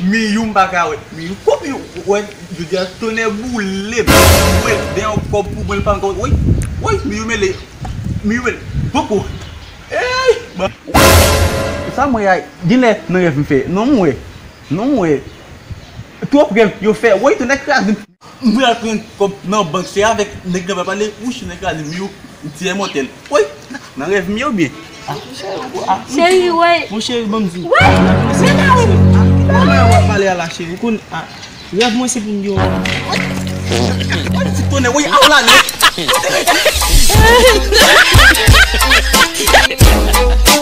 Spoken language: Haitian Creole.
Miyou m pa ka wè miyou kòb yo wè jodi a tonnè boulem mwen t gen yon kòb pou mwen l pa ankò woy woy miyou mele miyou mele poko eeyy bon woy sa m wè a genlè nan rèv m fè non m wè non m wè twòp rèv yo fè woy tonnè krazem. M pral pran kòb nan bank se avèk nèg nan pral pale wouch nèg la di m yo m ti imòtèl woy nan rèv m yo byen cheri woy bon cheri banm di koman wap pale a la cheri ou konn rèv mwen se pou m gen yon woy ti tonè woy a w la nèg.